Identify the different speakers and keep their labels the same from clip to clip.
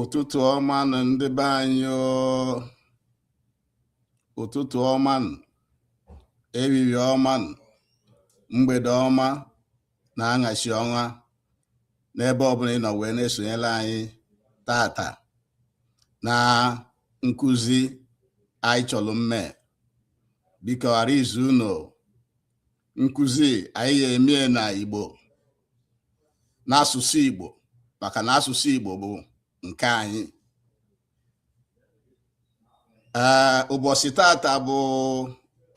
Speaker 1: ụtụtụ ọma nụ ndị be anyị ụtụtụ ọma ehihie ọma mgbede ọma na aṅasị ọma n'ebe ọbụla ị nọ wee na-esonyere anyị tata na nkụzi anyị chọrọ mme biko ghara izu unu nkụzi anyị ga-eme ya na Igbo n'asụsụ Igbo maka na asụsụ Igbo bụ nke anyị ee ụbọchị tata bụ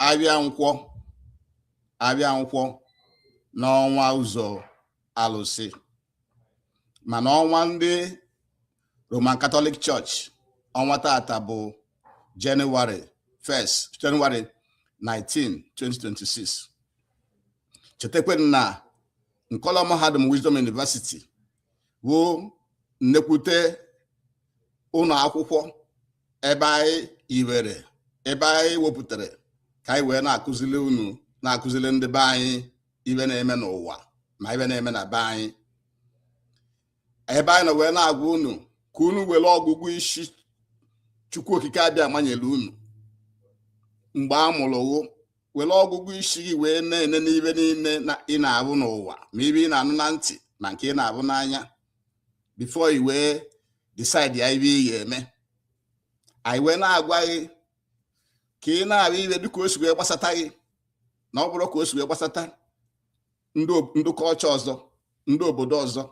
Speaker 1: avịa Nkwọ avịa Nkwọ n'ọnwa ụzọ alụsị mana ọnwa ndị Roman Catholic Church ọnwa tata bụ January 19 2026 chetakwa na Nkọlọ Mahadum Wisdom University bụ nnekwute ụlọ akwụkwọ ebe anyị iwere ebe anyị wepụtara ka anyị wee na-akụzili unu na-akụzili ndị be anyị ive na-eme n'ụwa ma ive na-eme na be anyị ebe anyị nọ wee na-agwa unu ka unu were ọgụgụ isi Chukwu Okike Abịama nyere unu mgbe a mụrụ gụ were ọgụgụ isi gị wee na-enene ive niile ị na-avụ n'ụwa ma ive ị na-anụ na ntị ma nke ị na-avụ n'anya before i wee decide ya ive ị ga-eme anyị wee na-agwa gị ka ị na-avụ ive dịka o si wee gbasata gị na ọ bụrọ ka o si wee gbasata ndị culture ọzọ ndị obodo ọzọ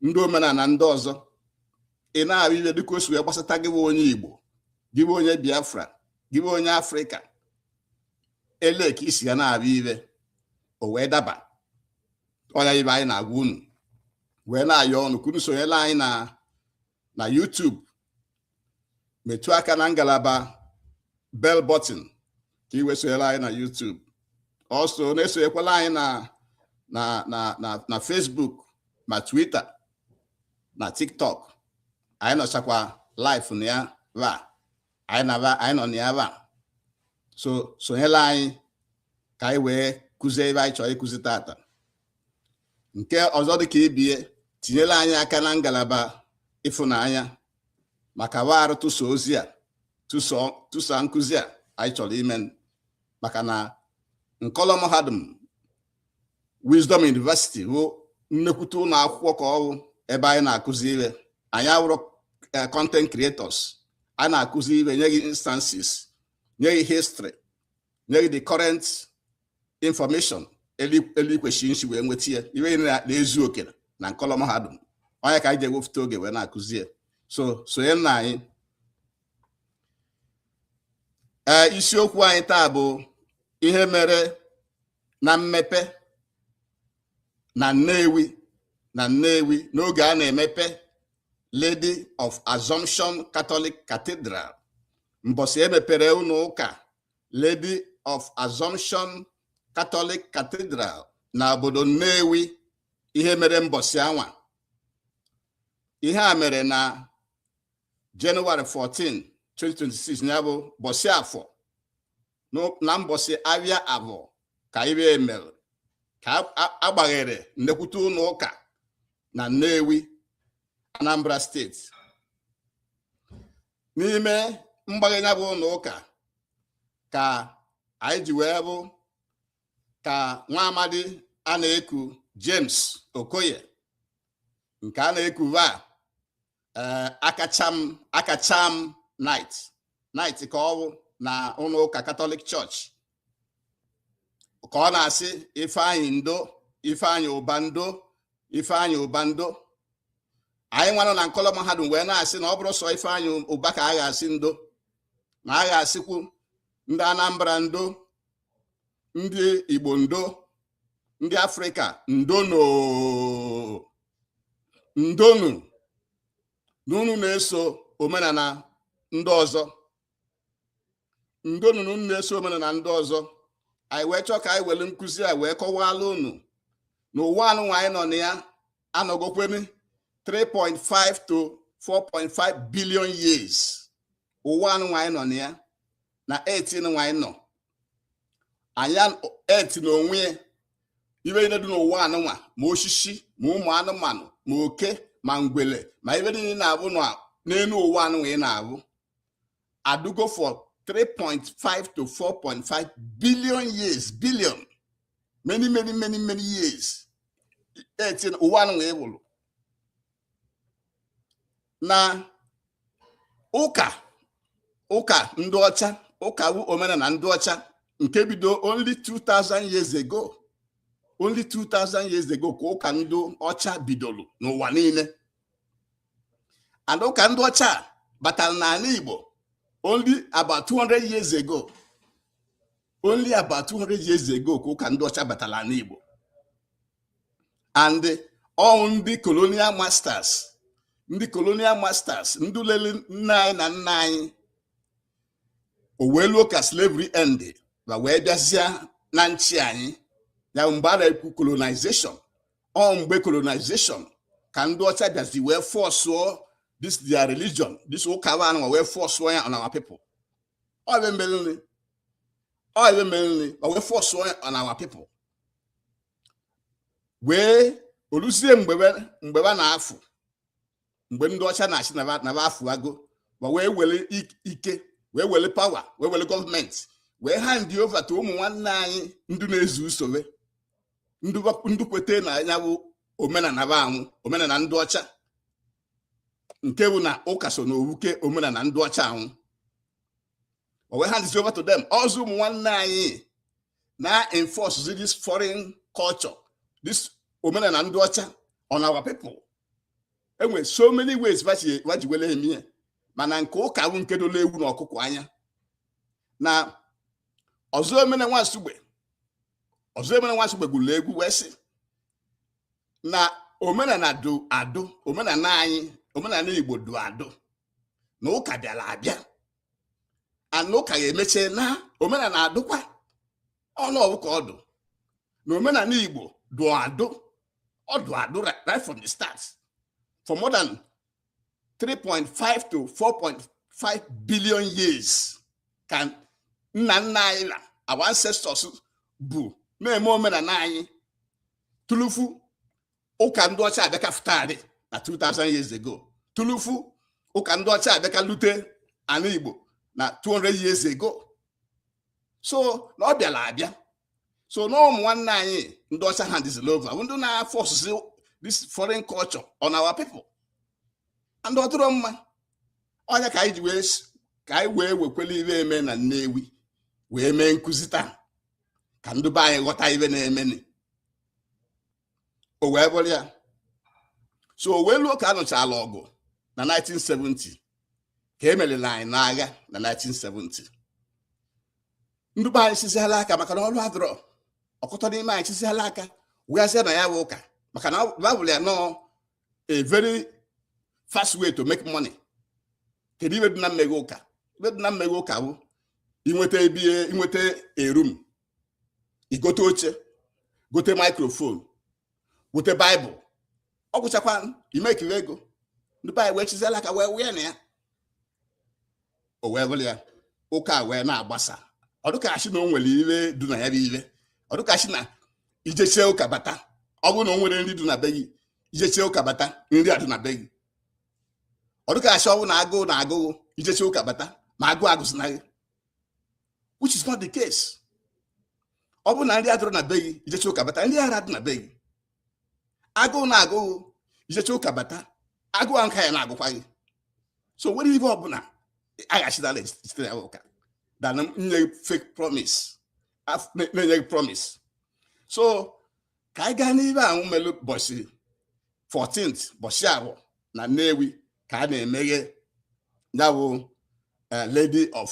Speaker 1: ndị omenala ndị ọzọ ị na-avụ ive dịka o si wee gbasata gị bụ onye Igbo gị bụ onye Biafra gị bụ onye Afrịka ele ka i si ga na-avụ ive o wee daba ọ ya ive anyị na-agwa unu wee na-ayọ unu ka unu sonyela anyị na na YouTube metụ aka na ngalaba bell button ka ị wee sonyere anyị na YouTube also na-esonyekwala anyị na na na na na Facebook ma Twitter na TikTok anyị nọchakwa live na ya va anyị na va anyị nọ na ya va so sonyela anyị ka anyị wee kụzie ive anyị chọrọ ịkụzi tata nke ọzọ dị ka ibe ya tinyere anyị aka na ngalaba ịfụnanya maka warụ tụsa ozi a tụsa nkụzi a anyị chọrọ ime maka na nkọlọ mahadum Wisdom University bụ nnekwute ụlọ akwụkwọ ka ọ wụ ebe anyị na-akụzi ihe anyị awụrọ eh, content creators anyị na-akụzi ihe nye gị instances nye gị history nye gị the current information elu ikwesị nsi wee nweta ya ive na-ezu oke na nkọlọ mahadum ọ nya ka anyị ji ewepụta oge wee na-akụzi ya so sonye na anyị ee eh, isiokwu anyị taa bụ ihe mere na mmepe na Nnewi na Nnewi n'oge a na-emepe Lady of Assumption Catholic Cathedral mbọsị e mepere ụlọ ụka Lady of Assumption Catholic Cathedral na obodo Nnewi ihe mere mbọsị anwa ihe a mere na January 14 2026 ya bụ mbọsị Afọ na mbọsị ahịa Afọ ka ive a mere ka a gbaghere nnekwute ụlọ ụka na Nnewi Anambra steeti n'ime mgbaghe ya bụ ụlọ ụka ka anyị ji wee vụ ka nwa amadi a na-eku James Okoye nke a na-eku va eh, Akacham Akacham knight knight ka ọ bụ na ụlọ ụka Catholic Church ka ọ na-asị Ifeanyị ndo Ifeanyị Ụba ndo Ifeanyị Ụba ndo anyị nwanụ na nkọlọ mahadum wee na-asị na ọ bụrọ sọ Ifeanyị Ụba ka a ga-asị ndo na a ga-asịkwu ndị Anambra ndo ndị Igbo ndo ndị Afrịka ndonụ ndonụ na unu na-eso omenala ndị ọzọ ndonụ na unu na-eso omenala ndị ọzọ anyị wee chọọ ka anyị were nkụzi a wee kọwaala unu na ụwa anụnwa anyị nọ na ya anọgokwene 3.5 to 4.5 billion years ụwa anụnwa anyị nọ na ya na earth nụnwa anyị nọ na ya earth na onwe ya ive niile dị n'ụwa anụnwa ma osisi ma ụmụ anụmanụ ma oke ma ngwele ma ive niile na-avụ n'elu ụwa anụnwa ị na-avụ adụgo for 3.5 to 4.5 billion years billion many many many many years earth ụwa anụ wee wụrụ na ụka ụka ndị ọcha ụka wu omenala ndị ọcha nke bido only 2000 years ago only 2000 years ago ka ụka ndị ọcha bidoro n'ụwa niile and ụka ndị ọcha batara n'ala Igbo only about 200 years ago only about 200 years ago ka ụka ndị ọcha batara n'ala Igbo and all ndị colonial masters ndị colonial masters ndị lele nna anyị na nna anyị o wee luo ka slavery end ba wee bịazịa na nchi anyị ya mgbe a na-ekwu colonization ọ mgbe colonization ka ndị ọcha bịazi wee fọsụọ this their religion this ụka wa anụnwa wee fọsụọ ya on our people ọ ibe mereni ọ ibe mereni wa wee fọsụọ ya on our people wee o luzie mgbe ba na-afụ mgbe ndị ọcha na-achị na ba afụago ba wee were ike wee were power wee were gọọmenti wee hand over to ụmụ nwanne anyị ndị na-ezu usoro ndị kweta na nya bụ omenala ba anwụ omenala ndị ọcha nke bụ na ụka so na owuke omenala ndị ọcha anwụ o wee hand over to them ọzọ ụmụ nwanne anyị na-enforce this foreign culture this omenala ndị ọcha on our people e nwere so many ways va ji wele emie mana nke ụka bụ nke dola ewu na ọkụkọ anya na Ọzọemena nwa Nsugbe Ọzọemena nwa Nsugbe gụrụ egwu wee sị na omenala dụ adụ omenala anyị omenala Igbo dụ adụ na ụka bịara abịa and na ụka ga-emeche na omenala adụkwa ọnụ ọ bụ ka ọ dụ na omenala Igbo dụ adụ ọ dụ adụ right from the start for more than 3.5 to 4.5 billion years ka nna nna anyị na our ancestors bụ na-eme omenala anyị tulufu ụka ndị ọcha abịa ka fụtarị na 2000 years ago tulufu ụka ndị ọcha abịa ka lute ala Igbo na 200 years ago so na ọ bịara abịa so na ụmụ nwanne anyị ndị ọcha handịzila over ndị na-afọsụ this foreign culture on our people and ọ dịrọ mma ọ nya ka anyị ji wee ka anyị wee wekwele ibe eme na Nnewi wee mee nkụzi taa ka ndị be anyị ghọta ibe na-emeni o wee bụrụ ya so o wee luo ka a nụchala ọgụ na 1970 ka e merila anyị n'agha na 1970 ndị be anyị siziala aka maka na ọrụ adụrọ ọkụtọ n'ime anyị siziala aka wee bazie na ya bụ ụka maka na ba vụlụ ya na ọ a very fast way to make money kedu ibe dị na mmeghe ụka ibe dị na mmeghe ụka bụ inweta ebe inweta a room i gote oche gote maikrofon gote baịbụl ọ gwụchakwa imekiri ego ndị be anyị wee chiziela aka wee wee na ya o wee bụrụ ya ụka wee na-agbasa ọ dụ ka a sị na o nwere ire dụ na ya bụ ire ọ dụ ka a sị na i jechie ụka bata ọ bụrụ na o nwere nri dụ na be gị i jechie ụka bata nri adụ na be gị ọ dụ ka a sị ọ bụ na agụụ na-agụ gị i jechie ụka bata ma agụụ agụzịna gị which is not the case ọ bụrụ na nri adịrọ na be gị i jechie ụka bata nri ara adị na be gị agụụ na-agụ gị i jechie ụka bata agụụ ahụ ka ya na-agụkwa gị so nwere ibe ọbụla aghachitala site na ụka dana nye fake promise na-enye gị promise so ka anyị gaa n'ibe ahụ melu bọchị 14th bọchị ahụ na Nnewi ka a na-emeghe ya bụ eh, Lady of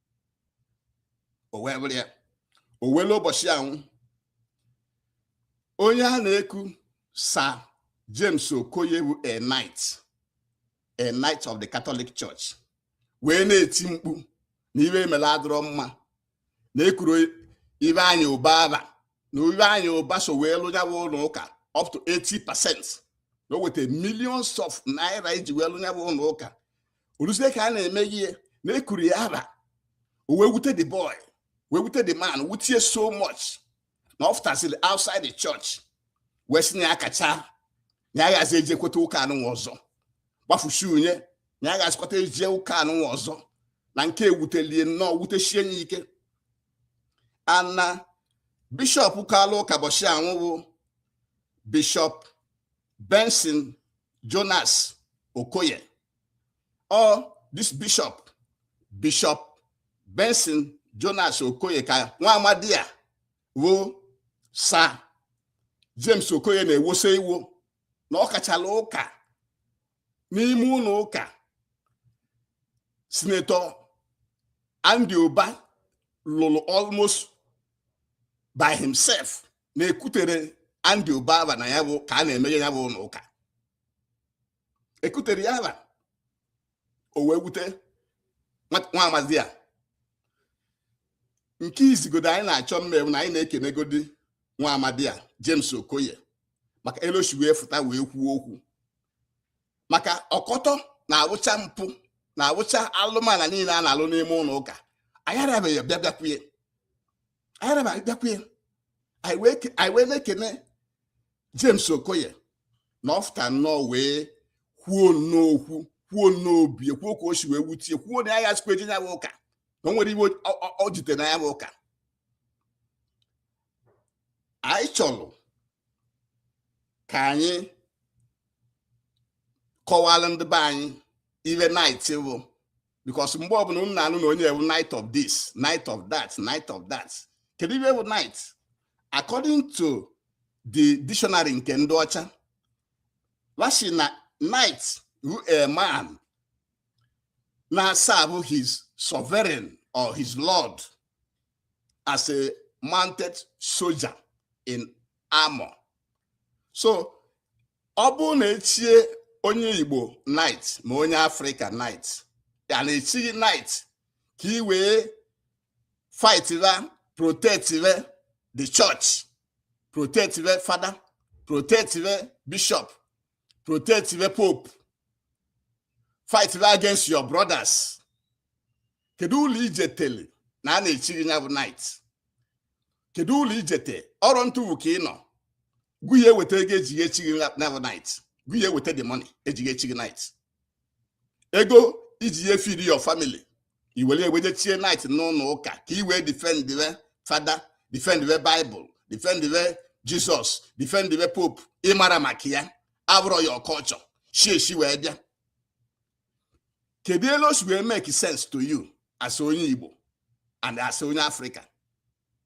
Speaker 1: o wee bụrụ ya o wee lue ụbọchị anwụ onye a na-eku Sir James Okoye bụ a knight a knight of the Catholic Church wee na-eti mkpu na ibe e mela adụrọ mma na ekuru Ifeanyi Uba aba na Ifeanyi Uba so wee lụọ ya bụ ụlọ ụka up to 80 percent na o weta millions of naira iji wee lụọ ya bụ ụlọ ụka o luzie ka a na-eme ihe na ekuru ya aba o wee wute the boy wee wute the man wutie so much na ọ fụtasịrị outside the church wee sị na ya akachaa na ya agazị ejekwata ụka anụnwa ọzọ gbafusi unye na ya agazịkwata eje ụka anụnwa ọzọ na nke a wutelie nnọọ wutesie ya ike and na bishọp kalụ ụka bọchị anwụ bụ bishọp benson jonas okoye ọ this bishop bishop benson jonas okoye ka nwa amadi a wụ sir james okoye na-ewosa iwo na ọ kachala ụka n'ime ụlọ ụka sinetọ andy uba lụrụ almost by himself na ekwutere andy uba aba na ya bụ ka a na-emeghe ya bụ ụlọ ụka ekutere ya aba o wee wute nwa amadi a nke izigodo anyị na-achọ ime wụ na anyị na-ekenegodi nwa amadi a James Okoye maka eloshi wee fụta wee kwuo okwu maka ọkọtọ na-awụcha mpụ na-awụcha alụmana niile a na-alụ n'ime ụlọ ụka anyị arabeghị bịa bịakwuye anyị arabeghị bịakwuye anyị wee na-ekene James Okoye na ọ fụta nnọọ wee kwuo nnọọ okwu kwuo nnọọ obi ya kwuo ka o si wee wutie kwuo na ya ya sikwa eje ya bụ ụka na o nwere ihe o jite na ya bụ ụka anyị chọrọ ka anyị kọwara ndị be anyị ihe knight bụ because mgbe ọ bụla unu na-anụ na onye wụ knight of this knight of that knight of that kedu ihe wụ knight according to the dictionary nke ndị ọcha wa shị na knight wụ a man na-eserve his sovereign or his lord as a mounted soldier in armor so ọ bụrụ na echie onye igbo knight ma onye Africa knight ya na-echi gị knight ka i wee fight ra protect re the church protect re father protect re bishop protect the pope fight ra against your brothers kedu uru i jitele na a na-echi gị ya bụ knight kedu uru i jite ọrọ ntufu ka ị nọ gị ya-eweta ego e ji echi gị ya bụ knight gị ya-eweta the money e ji echi gị knight ego i ji ye feed your family i were e weje chie knight n'ụlọ ụka ka i wee defend the father defend the bible defend the jesus defend the pope ị mara maka ya abụrọ your culture shi eshi wee bịa kedu elu o si wee make sense to you as onye igbo and as onye Africa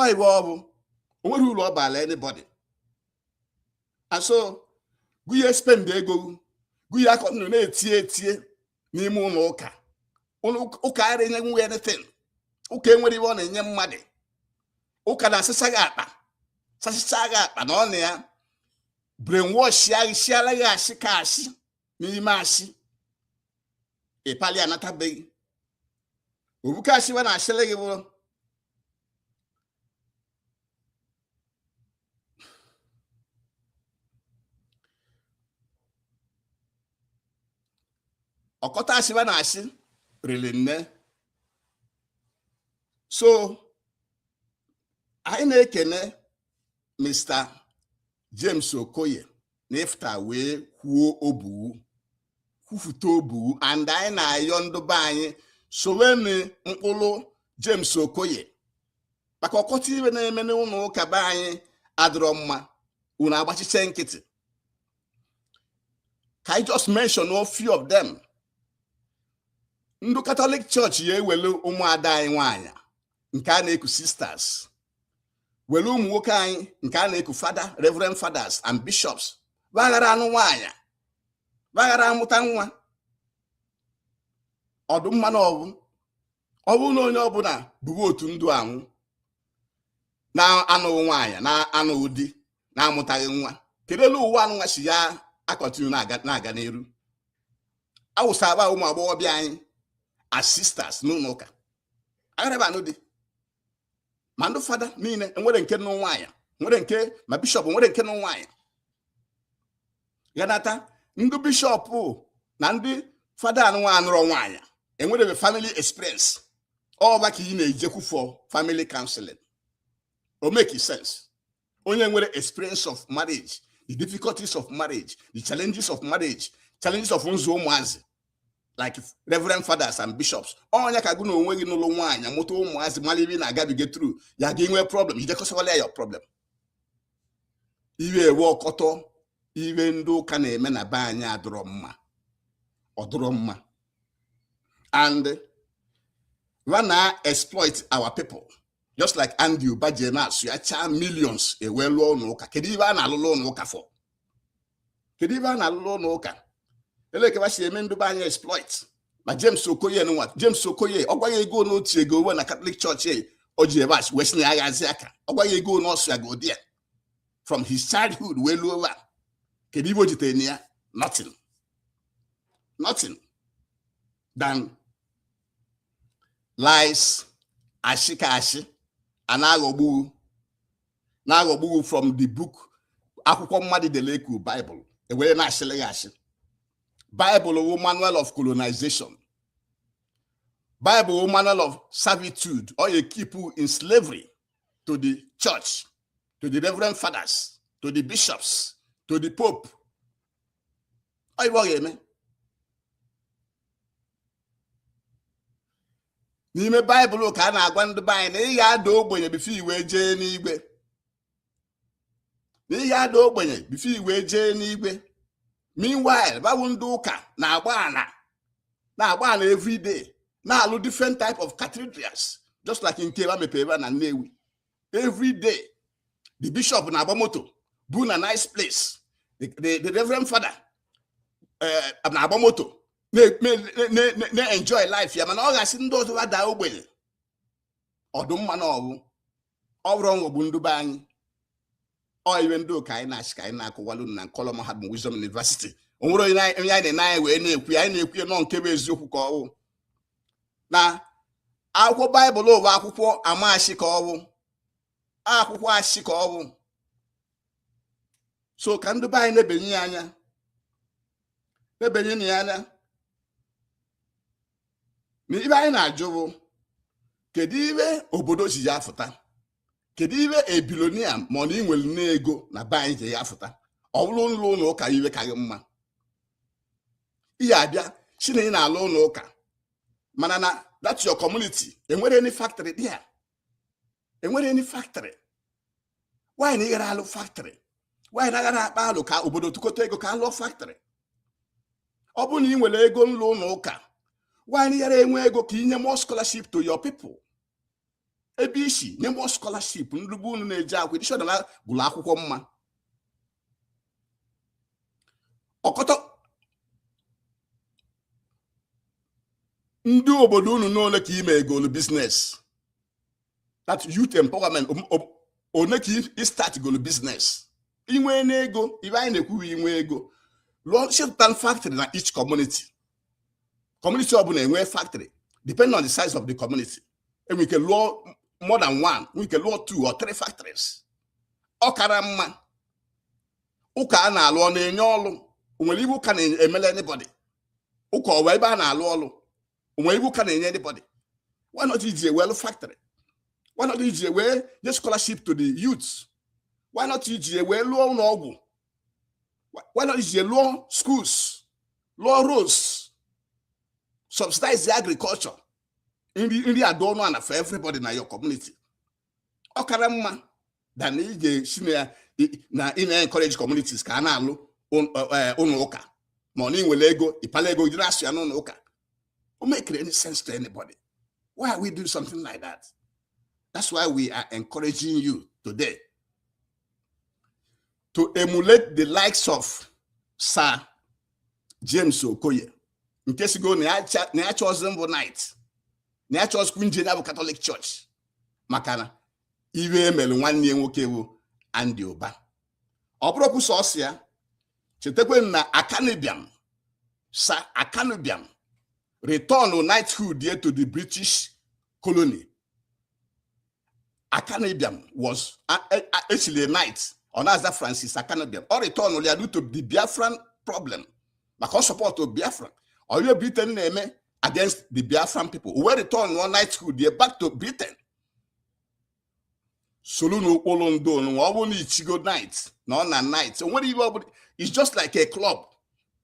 Speaker 1: ọ ihe ọ bụ o nwere uru ọ baala anybody and so gị ya-espend ego gị ya-akọ ọnụ na-etie etie n'ime ụlọ ụka ụka ara enye nwe anything ụka enwerọ ihe ọ na-enye mmadụ ụka na-asịsa gị akpa sasịsa gị akpa na ọ na-ebrainwashịa gị sịara gị asị ka asị n'ime asị ịpali anatabeghị obuka asị wa na-asịrị gị bụrụ ọkọta asị wa na-asị riri nne so anyị na-ekene Mr. James Okoye na ị fụta wee kwuo obi gị kwufute obi gị and anyị na-ayọ ndị be anyị sowenụ ụkpụrụ James Okoye maka ọkọta ihe na-eme n'ụlọ ụka be anyị adịrọ mma unu agbachiche nkịtị ka anyị just mention a few of them ndị Catholic Church ya-ewelu ụmụ ada anyị nwanyị nke a na-eku sisters were ụmụ nwoke anyị nke a na-eku fada reverend fathers and bishops va ghara anụ nwaanyị va ghara amụta nwa ọ dụ mma na ọ bụ ọ bụrụ na onye ọbụla bụbu otu ndụ anwụ na-anụghị nwaanyị na-anụghị di na-amụtaghị nwa kedu elu ụwa anụnwa si ya a-continue na-aga n'iru awụsaba ụmụ agbọghọ be anyị as sisters n'ụlọ ụka agharaba anụ di ma ndị fada niile e nwere nke nụ nwaanyị nwere nke ma bishọp e nwere nke nụ nwaanyị ganata ndị bishọp na ndị fada anụnwa anụrọ nwaanyị enwere family experience ọ va ka ị na-ejekwu for family counseling o make sense onye nwere experience of marriage the difficulties of marriage the challenges of marriage challenges of nzụ ụmụazị like reverend fathers and bishops onye ka gị na onwe gị nụlụ nwaanyị mụta ụmụazị malị ive na-agabiga through ya gị nwee problem i jee kọsawala ya problem iwe ewe ọkọtọ ive ndị ụka na-eme na be anyị adụrọ mma ọ dụrọ mma and va na-exploit our people just like Andy Uba ji na-asụ ya chaa millions e wee lụọ ụlọ ụka kedu ive a na-alụlụ ụlọ ụka for kedu ive a na-alụlụ ụlọ ụka ele ke va si eme ndụ be anyị exploit ma James Okoye nwa James Okoye ọ gwaghị ego n'otu ego uwe na Catholic Church e, o ji ebe asị wee si na aghazi aka ọ gwaghị ego n'ọsụ ya godi ya from his childhood wee luo ugbua kedu ive o jitere na ya nothing nothing than lies ashị ka ashị a na-aghọgbu gị na-aghọgbu gị from the book akwụkwọ mmadụ dele e ku Bible e were na-ashịlị gị ashị Bible wụ manual of colonization Bible wụ manual of servitude ọ ya keep you in slavery to the church to the reverend fathers to the bishops to the pope ọ ive ọ ga-eme n'ime baịbụl ka a na-agwa ndị be anyị na ị ga-ada ogbenye before i wee jee n'igwe na ị ga-ada ogbenye before i wee jee n'igwe meanwhile va wụ ndị ụka na-agba ana na-agba ana everyday na-alụ different type of cathedrals just like nke va mepere ebe a na Nnewi every day the bishop na-agba moto bu na nice place the, the, the reverend father eh, na-agba moto na-enjoy life ya mana ọ ga-asị ndị ọzọ ha daa ogbenye ọ dụ mma na ọ wụ ọ bụrụ nghọgbu ndụ be anyị ọ ive ndị ụka anyị na-ashị ka anyị na-akọwalụ unu na nkọlọ mahadum Wisdom University o nwerọ onye anyị na-ene anya wee na-ekwu ya anyị na-ekwu ya nọ nke bụ eziokwu ka ọwụ na akwụkwọ baịbụl wụ akwụkwọ ama ashị ka ọwụ akwụkwọ ashị ka ọwụ so ka ndị be anyị nebanye ya anya nebanyenụ ya anya na ive anyị na-ajụ bụ kedu ive obodo ji ya afụta kedu ive a billionaire ma ọ na inwere n'ego na be anyị ji ya afụta ọ bụrụ nlụ ụnọ ụka ive ka gị mma ị ya-abịa shị na ị na-alụ ụnọ ụka mana na that your community enwere any factory dị ya enwere any factory why na ịghara alụ factory why na aghara akpa alo ka obodo tụkọta ego ka alụọ factory ọ bụrụ na ị nwere ego nlụ ụnọ ụka why na ịghara enwe ego ka inye more scholarship to your people ebe ịshị nye more scholarship ndị be unu na-eje akwụkwọ edishọ na gụrụ akwụkwọ mma ọkọtọ ndị obodo unu n'ole ka imegolu business that youth empowerment one ka ị start golu business inwe n'ego ive anyị na-ekwu wụ inwe ego lụọ shepụtan factory na each community community ọbụla enwe factory depending on the size of the community enwere ike lụọ more than one nwere ike lụọ two or three factories ọ kara mma ụka a na-alụ ọ na-enye ọlụ onwere ive ụka na-emele anybody ụka ọ wụ ebe a na-alụ ọlụ onwere ive ụka na-enye anybody why not iji ewee lụọ factory why not iji ewee nye scholarship to the youth why not iji ewee lụọ ụnọ ọgwụ why not iji lụọ schools lụọ roads subsidize the agriculture nri adị ọnụ ana for everybody na your community ọ kara mma than ị ga-asị na ị na-encourage communities ka a na-alụ eh, ụnọ ụka ma ọ na ịnwere ego ịpala ego jiri asụ ya n'ụnọ ụka o make any sense to anybody why are we doing something like that that's why we are encouraging you today to emulate the likes of Sir James Okoye nke sịgo na ya achọzi mbụ knight na ya achọzikwu nje ya bụ Catholic Church maka na ive emere nwanne ya nwoke bụ Andy Uba ọ bụrọkwu sọsọ ya chetakwanụ na Akanu Ibiam Sir Akanu Ibiam return knighthood ye to the British colony Akanu Ibiam was actually a knight ọ na-aza Francis Akanu Ibiam ọ retọnụrụ ya due to the Biafran problem maka ọ sọpọtụ Biafra on ihe Britain na-eme against the Biafran people o wee returnụọ knighthood ya back to Britain solunu ụkpụlụ ndị ọnụnwa ọ bụrụ na i chigo knight na ọ na knight o nwerọ ihe ọ bụ it's just like a club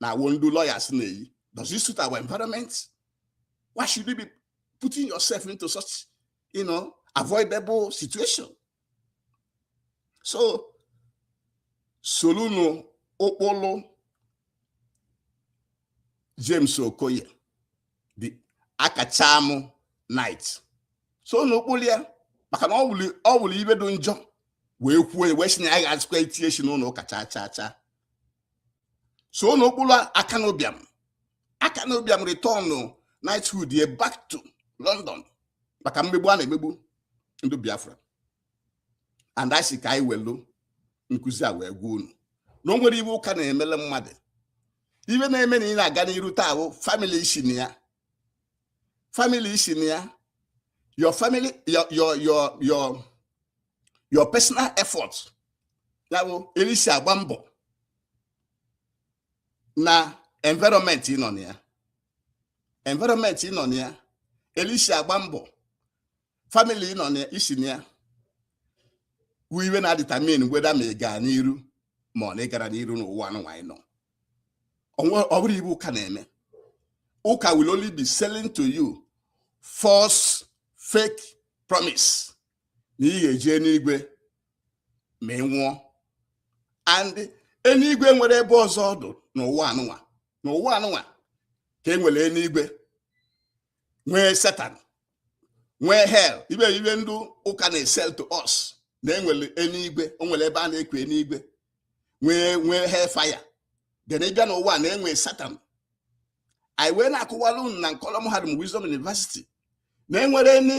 Speaker 1: na iwe ndị lawyers na-eyi does it suit our environment why should you be putting yourself into such you know avoidable situation so solunu ụkpụlụ James Okoye the akachamu knight sonu ụkpụlụ ya maka na ọ wụrụ iwe dụ njọ wee kwuo wee si na ya agazikwa etinye isi n'ụlọ ụka chaa chaa chaa sonu ụkpụlụ Akanu Ibiam Akanu Ibiam retọnụ knighthood ye back to London maka mmegbu a na-emegbu ndị Biafra and anyị sị ka anyị welu nkụzi a wee gwa unu na o nwerọ iwe ụka na-emele mmadụ iwe na-eme na ị na-aga n'iru taa bụ family i si na ya family i si na ya your family your your your your your personal effort ya bụ ele i si agba mbọ na environment ị nọ na ya environment ị nọ na ya ele i si agba mbọ family ị nọ na i si na ya wụ iwe na-edetermine whether ma ị gaa n'iru ma ọ na ị gara n'iru n'ụwa anụnwa anyị nọ ọ bụrọ iwe ụka na-eme ụka will only be selling to you false fake promise na ị ga-eje enuigwe ma ị nwụọ and enuigwe e nwerọ ebe ọzọ ọ dụ n'ụwa anụnwa n'ụwa anụnwa ka e nwere enuigwe nwee Satan nwee hell iwe iwe ndị ụka na-esell to us na e nwere enuigwe o nwere ebe a na-ekwu enuigwe nwee hellfire then ị bịa n'ụwa na e nwee Satan anyị wee na-akụwara unu na nkọlọm mahadum wisdom university na e nwere ni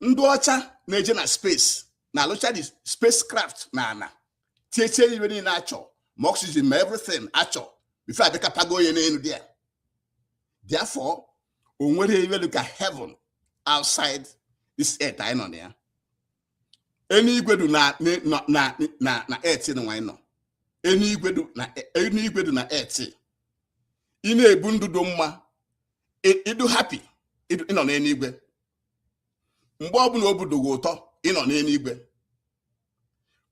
Speaker 1: ndị ọcha na-eje na space na a lụcha the spacecraft na a na-etinyecha iwe niile a chọ ma oxygen ma everything a chọ before a bịa akpago onye n'enu there therefore o nwerọ iwe dụ ka heaven outside this earth anyị nọ na ya enuigwe dụ na earth nwa anyị nọ enuigwe dụ na earth ị na-ebu ndụ dụ mma ị dụ happy ị nọ n'enigwe mgbe ọbụna obu dụ gị ụtọ ị nọ n'enigwe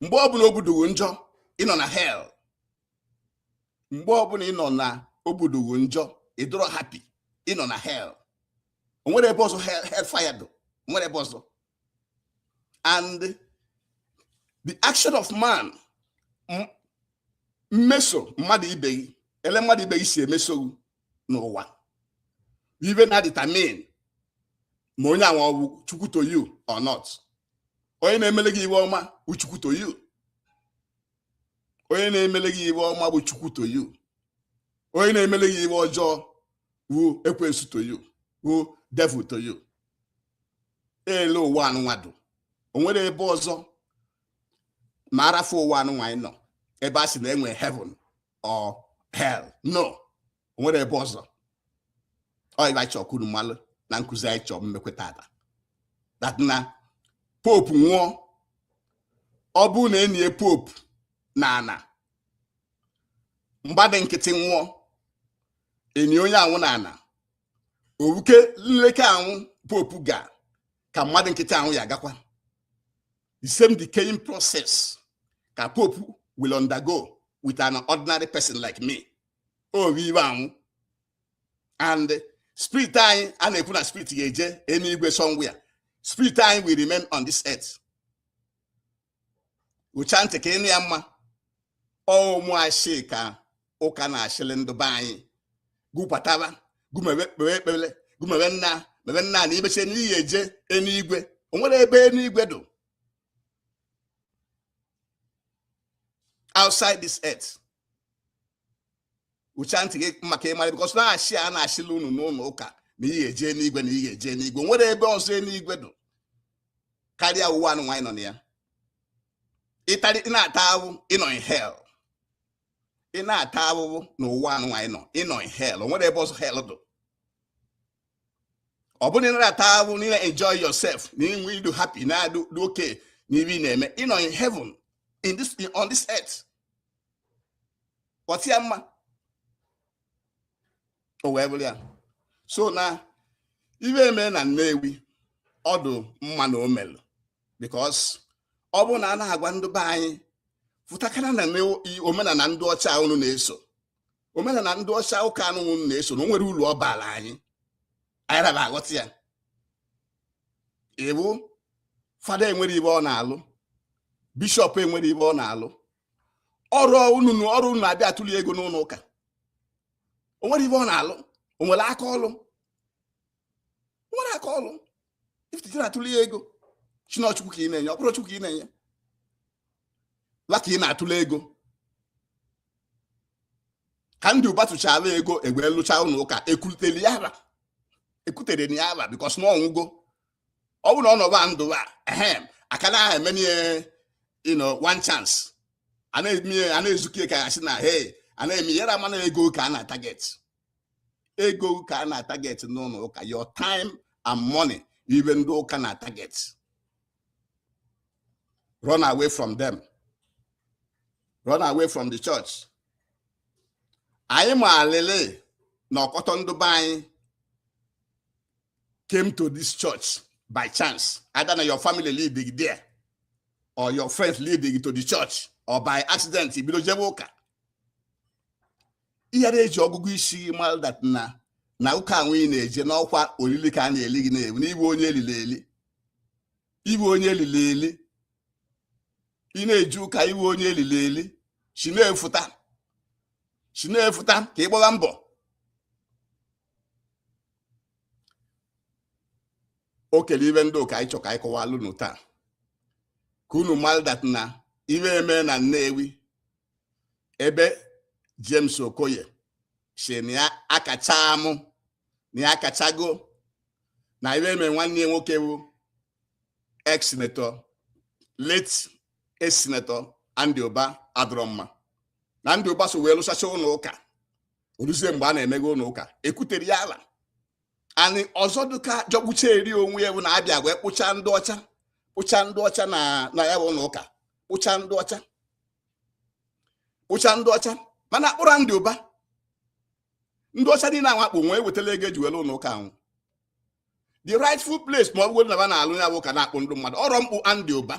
Speaker 1: mgbe ọbụna obu dụ gị njọ ị nọ na hell mgbe ọbụna ị nọ na obu dụ gị njọ ị dụrọ happy ị nọ na hell o nwere ebe ọzọ hell fire dụ o nwere ebe ọzọ and the action of man mmeso mmadụ ibe gị ele mmadụ ibe gị si emeso n'ụwa ihe na-determine ma onye anwa ọ wụ chukwu to you or not onye na-emele gị ihe ọma wụ chukwu to you onye na-emele gị ihe ọma bụ chukwu to you onye na-emele gị ihe ọjọọ wụ ekwensu to you wụ devil to you ele ụwa anụnwa dụ o nwere ebe ọzọ ma a rafụ ụwa anụnwa anyị nọ ebe a sị na e nwe heaven or hell no o nwere ebe ọzọ ọ ihe anyị chọọ ka unu malụ na nkuzi anyị chọọ mmekwe taata that na pope nwụọ ọ bụrụ na e nie pope n'ana mmadụ nkịtị nwụọ e nie onye anwụ n'ana ọ wụkwe nleke anwụ pope ga ka mmadụ nkịtị anwụ ya-agakwa the same decaying process ka pope will undergo with an ordinary person like me oge ibe anwụ and spirit anyị a na-ekwu na spirit ga-eje enigwe somewhere spirit anyị will remain on this earth wụchaa ntị ka ị nụ ya mma ọ wụ ashị ka ụka na-ashịlị ndụ be anyị gụ pataba gụ mewe kpewe ekpere gụ mewe nna mewe nna na i mechee na ị ya-eje enigwe o nwere ebe enigwe dụ outside this earth wụchaa ntị gị mma ka ị mara because na ashị a na-ashịlị unu n'ụlọ ụka na ị ya-eje enigwe na ị ya-eje enigwe o nwere ebe ọzọ enigwe dụ karịa ụwa anụnwa anyị nọ na ya ị tarị na-ata ahụhụ ị nọ in hell ị na-ata ahụhụ n'ụwa anụnwa anyị nọ ị nọ in hell o nwere ebe ọzọ hell dụ ọ bụrụ na ị narọ ata ahụhụ na ị na-enjoy yourself na-enwe ị dụ happy na-adụ okay na ihe ị na-eme ị nọ in heaven in this on this earth ghọta ya mma o wee bụrụ ya so na ihe e me na Nnewi ọ dụ mma na o melụ because ọ bụrụ na a na-agwa ndị be anyị fụtakana na omenala ndị ọcha unu na-eso omenala ndị ọcha ụka anụ unu na-eso na o nwere uru ọ baala anyị ayara ba aghọta ya even fada enwere ibe ọ na-alụ bishọp enwere ibe ọ na-alụ ọrọ unu ọrọ na unu abịa atụli ego n'ụlọ ụka o nwere ibe ọ na-alụ o nwere aka ọlụ o nwere aka ọlụ ị fụta ị na-atụrụ ya ego si na ọ Chukwu ka ị na-enye ọ bụrọ Chukwu ka ị na-enye ba ka ị na-atụrụ ego ka Andy Uba tụchara ego e wee lụcha ụlọ ụka ekwutere ya aba ekwutere ya aba because na ọ nwụgo ọ bụrụ na ọ nọba ndụ a ehem a ka na-eme ihe you know one chance a na-eme a na-ezuke ka ya sị na hey a na-eme yara mana ego ka a na-ataget ego ka a na-ataget n'ụlọ ụka your time and money ibe ndị ụka na-ataget run away from them run away from the church anyị ma alele na ọkọtọ ndị be anyị came to this church by chance either na your family lead gị there or your friends lead gị to the church or by accident i bido jebe ụka ị yara eji ọgụgụ isi gị mara that na na ụka anwụ ị na-eje na ọ kwa olili ka a na-eli gị na ị wụ na ị wụ onye elili eli ị wụ onye elili eli ị na-eje ụka ị wụ onye elili eli si na-efuta si na-efuta ka ị gbara mbọ o kele ibe ndị ụka anyị chọ ka anyị kọwalụ unu taa ka unu mara that na ibe eme na Nnewi ebe James Okoye si na ya akacha amụ na ya akachago na ibe eme nwanne ya nwoke wụ ex senator late ex senator Andy Uba adịrọ mma na Andy Uba so wee lụsacha ụlọ ụka o luzie mgbe a na-emeghe ụlọ ụka ekwutere ya aba and ọzọ dịka jọgbucharị onwe ya bụ na a bịa wee kpụcha ndị ọcha kpụcha ndị ọcha na na ya bụ ụlọ ụka kpụcha ndị ọcha kpụcha ndị ọcha mana akpụrọ Andy Uba ndị ọcha niile ahụ a kpụ o nwee wetala ego eji wee lụ ụlọ ụka ahụ the rightful place ma ọ bụrụ na ba na-alụ ya bụ ụka na-akpụ ndị mmadụ ọrọ mkpụ Andy Uba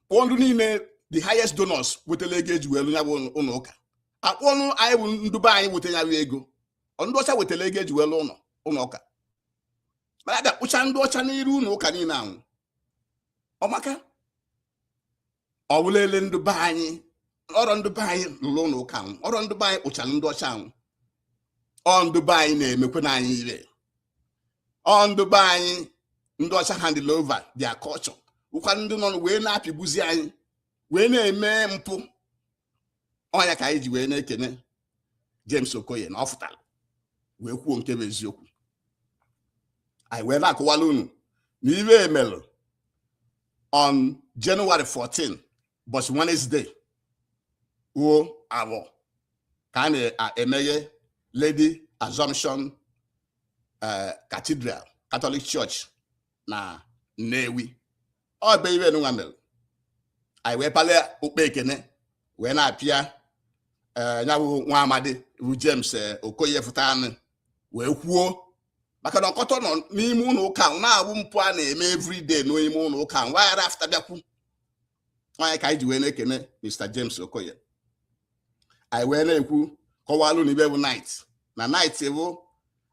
Speaker 1: kpụọ ndị niile the highest donors wetala ego eji wee lụ ya bụ ụlọ ụka a kpụọnụ anyị bụ ndị be anyị weta ya bụ ego ndị ọcha wetara ego eji wee lụọ ụlọ ụlọ ụka mana abịa kpụcha ndị ọcha n'iru ụlọ ụka niile anwụ ọ maka ọwụlele ndị be anyị ọrọ ndị be anyị lụrụ ụlọ ụka anwụ ọrọ ndị be anyị kpụchara ndị ọcha anwụ ọ ndị be anyị na-emekwanụ anyị ire ọ ndị be anyị ndị ọcha handle over their culture ọkwa ndị nọ wee na-apịgbuzi anyị wee na-eme mpụ ọ nya ka anyị ji wee na-ekene James Okoye na ọ fụtara wee kwuo nke bụ eziokwu anyị wee na-akọwala unu na ibe e melụ on January 14 ụbọchị Wednesday wuo abụọ ka a na-emeghe Lady Assumption eh, Cathedral Catholic Church na Nnewi ọ bụ ibe nwa mere anyị wee palie okpe ekene wee na-apịa eh, ya bụ nwa amadi bụ James eh, Okoye fụtanụ wee kwuo maka na ọkọtọ nọ n'ime ụlọ ụka na-awụ mpụ a na-eme everyday n'ime ụlọ ụka wa ghara afụta bịa kwuo ọ nya ka anyị ji wee na-ekene Mr James Okoye anyị wee na-ekwu kọwalụ unu ibe bụ knight na knight bụ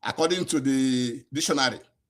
Speaker 1: according to the dictionary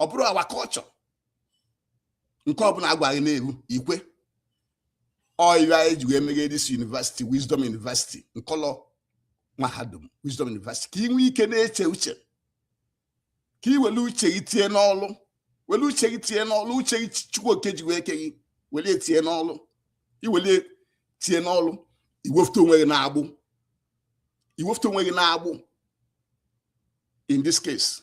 Speaker 1: ọ bụrụ our culture nke ọbụla a gwa gị na-eru i kwe ọ ya eji wee meghe this university wisdom university m kpọlọ mahadum wisdom university ka ị nwee ike na-eche uche ka ị were uche gị tinye n'ọlụ were uche gị tinye n'ọlụ uche gị chukwu oke ji wee ke gị were ya tinye n'ọlụ i were tinye n'ọlụ i wefụta onwe gị n'agbụ i wefụta onwe gị n'agbụ in this case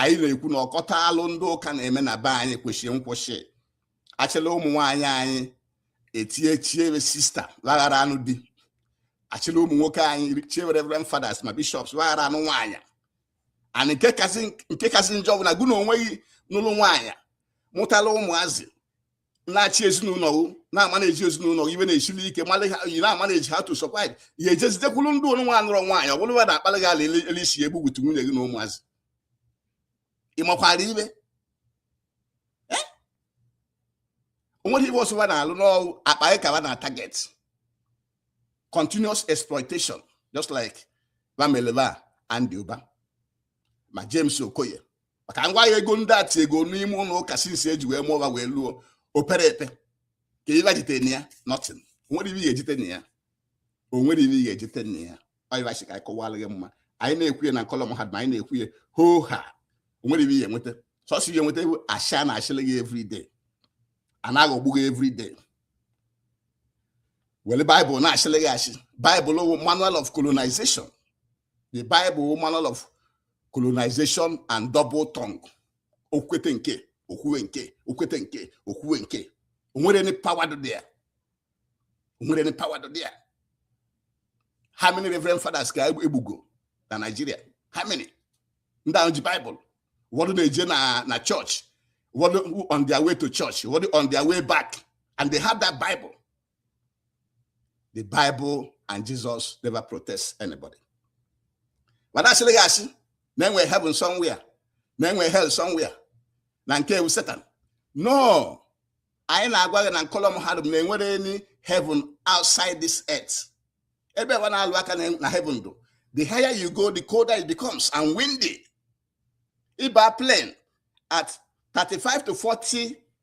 Speaker 1: anyị na-ekwu na ọkọtọ alụ ndị ụka na-eme na be anyị kwesịrị nkwụsị a chịlị ụmụ nwaanyị anyị etinye chie wa sista wa ghara anụ di a chịlị ụmụ nwoke anyị chie wa reverend fathers ma bishops wa ghara anụ nwaanyị and nke kasị njọ bụ na gị na onwe gị nụlụ nwaanyị mụtala ụmụazị na-achị ezinụlọ gị na-amanage ezinụlọ gị ibe na-esili ike ị na-amanage how to survive ị jezie dakwuru ndị nụnwa anụrọ nwaanyị ọ bụrụ na akpalị gị ala ele isi egbu gbutu nwunye gị na ụmụazị ị makwara ibe onweghị ibe ọzọ wa na-alụ n'ọrụ akpa gị ka ba na-atarget continuous exploitation just like ba mele Ifeanyi Ubah ma James Okoye maka ngwa ya ego ndị a tiego n'ime ụlọ ụka since eji wee mụọ ha wee luo o pere epe ke ibe wa jite na ya nothing onwere ibe ga-ejite na ya onwere ibe ga-ejite na ya ọ ibe a sị ka anyị kọwara gị ma anyị na-ekwu ya na kọlọm ha ma anyị na-ekwu ya hoo ha onwere ibe ị ya enweta sọsọ ya enweta asị a na-asịlị gị everyday a na-aghọgbu gị everyday were baịbụl na-asịlị gị asị baịbụl wụ manual of colonization the bible manual of colonization and double tongue o kwete nke o kwuwe nke o kwete nke o kwuwe nke o nwerọ any power dị ya o nwerọ any power dị ya how many reverend fathers ka egbugo na Nigeria how many ndị ahụ ji bible ụfọdụ na-eje na church ụfọdụ on their way to church ụfọdụ on their way back and they have that bible the bible and jesus never protect anybody mana a sịrị gị asị na e nwe heaven somewhere na e nwe hell somewhere na nke a wụ satan no anyị na-agwa gị na nkọlọ mahadum na enwerọ any heaven outside this earth ebe ba na-alụ aka na heaven dụ the higher you go the colder it becomes and windy ị baa plane at 35 to 40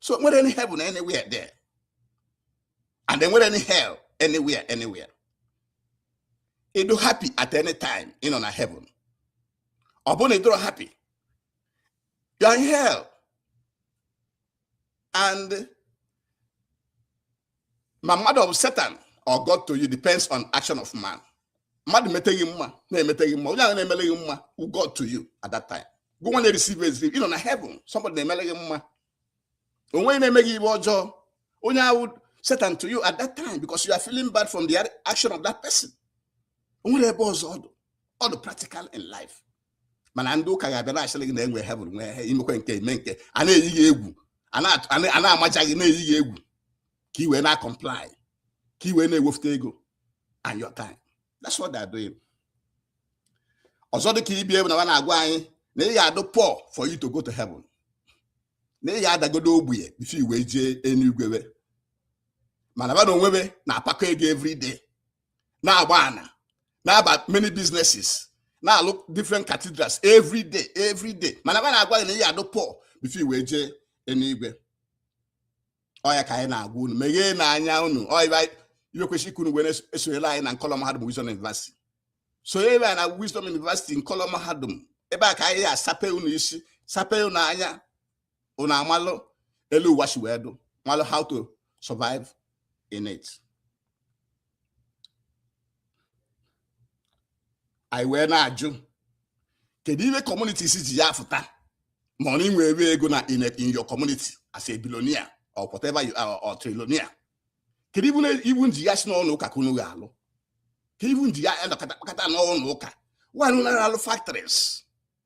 Speaker 1: so o nwerọ any heaven anywhere there and enwerọ any hell anywhere anywhere ị dụ happy at any time ị nọ na heaven ọ bụrụ na ị dụrọ happy you are in hell and ma mmadụ ọ bụ satan or God to you depends on action of man mmadụ mete gị mma na-emete gị mma onye ahụ na-emele gị mma wụ God to you at that time gụ nwa na-ereceive it ị nọ na heaven somebody na-emele gị mma o wee na-eme gị ibe ọjọọ onye ahụ wụ satan to you at that time because you are feeling bad from the action of that person o nwerọ ebe ọzọ ọ dụ ọ dụ practical in life mana ndị ụka ga-abịa na-asịrị gị na e nwe heaven nwe hell i mekwe nke i me nke a na-eyi gị egwu a na-amaja gị na-eyi gị egwu ka i wee na-acomply ka i wee na-ewefute ego and your time that's what they're doing ọzọ dị ka ibe ba na-agwa anyị na ị ya-adụ poor for you to go to heaven na ị ya-adagodu ogbenye before i wee jee enuigwe mana ba na onwe be na-apakọ ego every day na-agba ana na-aba many businesses na-alụ different cathedrals every day every day mana ba na-agwa gị na ị ya-adụ poor before i wee jee enuigwe ọ ya ka anyị na-agwa unu megheenụ anya unu ọ ya kwesịrị ka unu wee esonyela anyị na nkọlọ mahadum Wisdom University sonyere anyị na Wisdom University nkọlọ mahadum ebe a ka anyị ya-asape unu isi sape unu anya unu amalụ elu ụwa si wee dụ malụ how to survive in it anyị wee na-ajụ kedu ihe communities ji ya-afụta ma ọ na i nwebe ego na in in your community as a billionaire or whatever you are or trillionaire kedu ibe na- ibe unu ji ya-asị n'ụlọ ụka ka unu ga-alụ ka ibe unu ji ya-anọkọta kpakọta n'ụlọ ụka why not na-alụ factories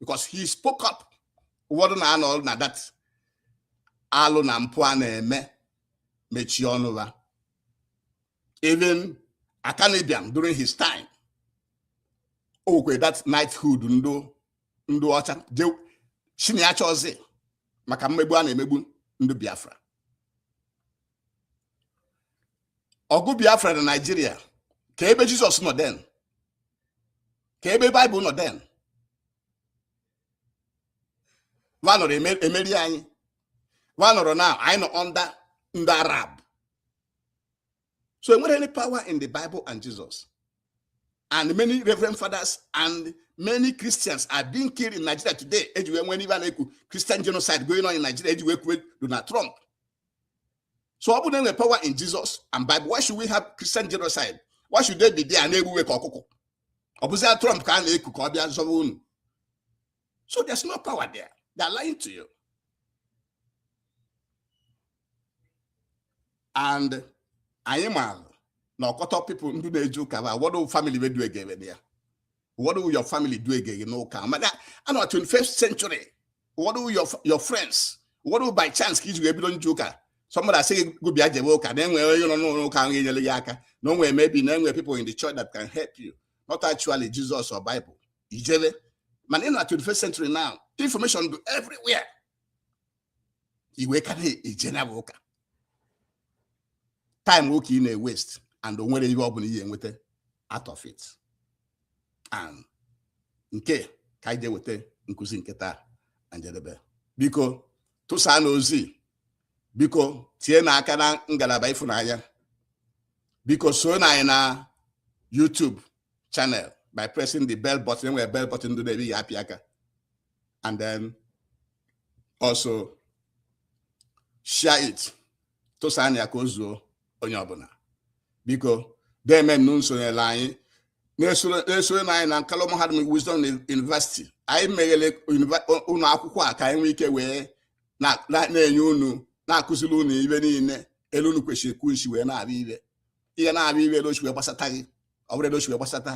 Speaker 1: because he spoke up ụfọdụ na-anọ na that alụ na mpụ a na-eme mechie ọnụ ha even Akanu Ibiam during his time okwe that knighthood ndụ ọcha chiniacha ọzọ maka mmegbu a na-emegbu ndụ Biafra ọgụ biafra na nigeria ka ebe jesus nọ then ka ebe bible nọ then va nọrọ emeri anyị va nọrọ na anyị nọ under ndị arab so e nwere any power in the bible and jesus and many reverend fathers and many christians are being killed in nigeria today e ji wee nwee n'ibe a na-ekwu christian genocide going on in nigeria e ji wee kuwe donald trump so ọ bụrụ na e nwe power in Jesus and Bible why should we have Christian genocide why should they be there a na-egbu we ka ọkụkọ ọ bụzia Trump ka a na-eku ka ọ bịa zọba unu so there's no power there they're lying to you and anyị maara na ọkọtọ people ndị na-eje ụka ba whether family we dugara ya whether ọ wụ your family duga gị you know ka maka a nọ na 21st century what will your, your friends whether ọ wụ by chance ka i ji wee bido nje ụka somebody asị gị gụ bịa jebe ụka na enwere onye nọ n'ụlọ ụka ahụ enyere ya aka na o nwere maybe na enwere people in the church that can help you not actually Jesus or Bible i jebe mana ị nọ na 21st century now information dụ everywhere i wee ka na-eje na ụka time gụ ka ị na-awaste and o nwerọ ihe ọ bụla ị ya-enweta out of it and nke ka anyị ga-eweta nkụzi nke taa na njedebe biko tụsaanụ ozi biko tienụ aka na ngalaba ịfụnanya biko soonụ anyị na YouTube channel by pressing the bell button e nwere bell button dụ n'ebe ya a pịa aka and then also share it tụsaanụ ya ka o zuo onye ọbụla biko deemenụ sonyere anyị soronụ anyị na Nkalụ Mahadum Wisdom University anyị meghere ụlọ akwụkwọ a ka anyị nwee ike wee na-enye unu na-akụziri unu ibe niile elu unu kwesịrị kwụsị wee na-abịa ibe ihe na-abịa ibe edochi wee gbasata gị ọ bụrụ edochi wee gbasata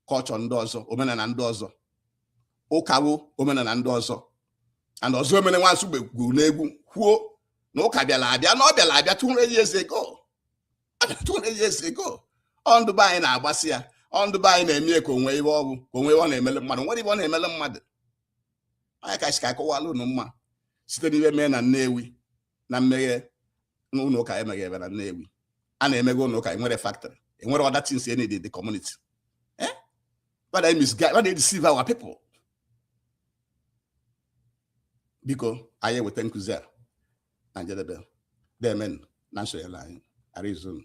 Speaker 1: culture ndị ọzọ omenala ndị ọzọ ụka wụ omenala ndị ọzọ and Ozoemena Nwa Nsugbe gụrụ n'egwu kwuo na ụka bịara abịa na ọ bịara abịa 200 years ago 200 years ago ọ ndụ be anyị na-agbasi ya ọ ndụ be anyị na-eme ya ka o nwe iwe ọ wụ ka o nwe iwe ọ na-emele mmadụ nwere iwe ọ na-emele mmadụ anyị ka si ka akọwala unu mma site n'ihe mee na Nnewi na mmeghe ụlọ ụka emeghe ebe na Nnewi a na-emeghe ụlọ ụka enwere factory enwere other things ndị dị community eh va na-emisguide va na-edeceive our people biko anyị eweta nkụzi a na njedebe deemenụ na nsonyere anyị arizona